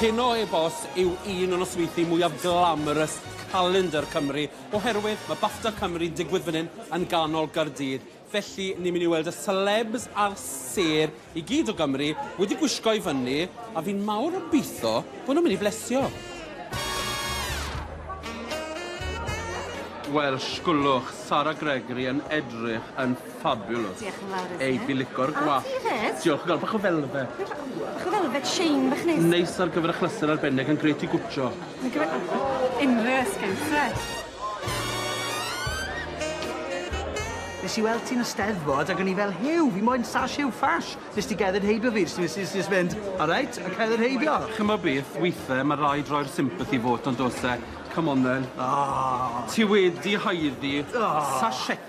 Heno heb os yw un o nosweithi mwyaf glamorous calendar Cymru oherwydd mae Bafta Cymru'n digwydd fan hyn yn ganol Gaerdydd felly ni'n mynd i weld y celebs a'r sêr I gyd o Gymru wedi gwisgo i fyny a fi'n mawr obeitho bo nhw'n mynd i flesio. Wel, sgwlwch, Sara Gregory yn edrych yn fabulous. Diolch yn fawr iddi. Ei bilico'r gwallt. A ti 'fyd. Diolch yn fawr, bach o felfed. Bach o felfed shine bach neis. Neis ar gyfer achlysur arbennig yn grêt i gwtshio. Mae'n grêt ar unrhyw esgyrn, grêt. Nes i weld ti yn y Steddfod ag o'n i fel Huw fi moyn sash Huw Ffash. Nes di gerdded heibio fi jyst nes i jyst mynd alright a cerdded heibio. Ch'mo' beth withe ma' raid roi'r sympathy vote on'd o's e? Come on then. O! Ti wedi haeddu... O! ...sashetti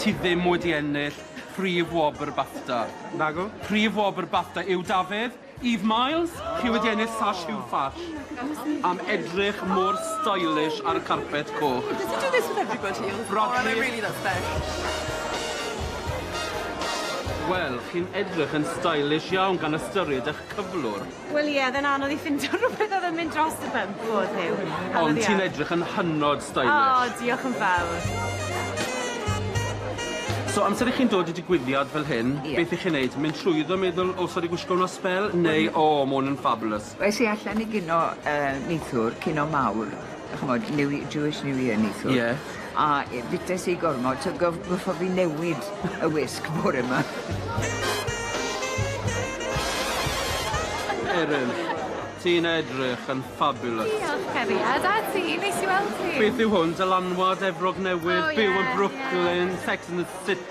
Ti ddim wedi ennill prif wobr Bafta. Nagw. Prif wobr Bafta yw Dafydd, Eve Miles, chi wedi ennill Sash Huw Fash am edrych mor stylish ar y carpet coch. Does he do this with everybody? Rhodri. Oh I really look fresh. Wel, chi'n edrych yn stylish iawn gan ystyried 'ych cyflwr. Wel ie, oedd e'n anodd i ffindo rhywbeth oedd yn mynd dros y bump o'dd Huw. Anodd iawn. Ond ti'n edrych yn hynod stylish. O, diolch yn fawr. So amser i chi'n dod i digwyddiad fel hyn... Ie. ...beth 'ych chi'n neud? Mynd trwyddo meddwl o sori gwisgo 'wn ar sbel neu o ma' 'wn yn fabulous? Es i allan i gino yy neithiwr, cino mawr. ch'mod New Ye- Jewish New Year neithiwr. Ie. A yy bites i gormod t'o' gof- goffo' fi newid y wisg bore 'ma. Eryl, ti'n edrych yn fabulous. Diolch cariad, a ti, neis i weld ti. Beth yw hwn, dylanwad Efrog Newydd? O ie ie. Byw yn Brooklyn, Sex and the City.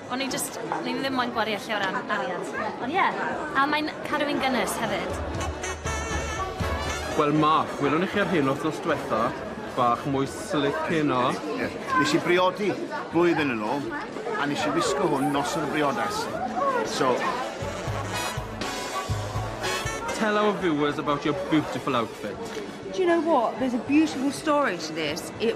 O'n i jyst, o'n i ddim moyn gwario lle o ran arian. Ond ie, a mae'n cadw fi'n gynnes hefyd. Wel Mark, welwn i chi ar hyn wthnos dwetha, bach mwy slick heno. Ie, nes i briodi blwyddyn yn ôl, a nes i wisgo hwn noson y briodas, so. Tell our viewers about your beautiful outfit. Do you know what, there's a beautiful story to this, it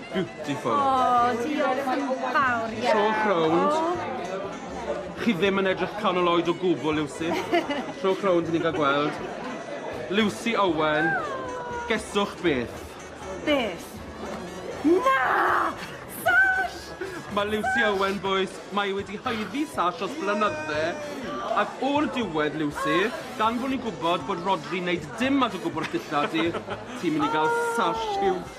Beautiful. Oh, diolch yn fawr iawn. Trowch rownd. Oh. Chi ddim yn edrych canol oed o gwbl, Lucy. Trowch rownd i ni gael gweld. Lucy Owen, geswch beth? Beth? Na! Sash! Mae Lucy Owen, boys, mae wedi haeddu sash os blynydde. Ac o'r diwedd, Lucy, gan fod ni'n gwybod bod Rodri wneud dim at y gwbl ddillad di, ti'n mynd i gael sash siwt.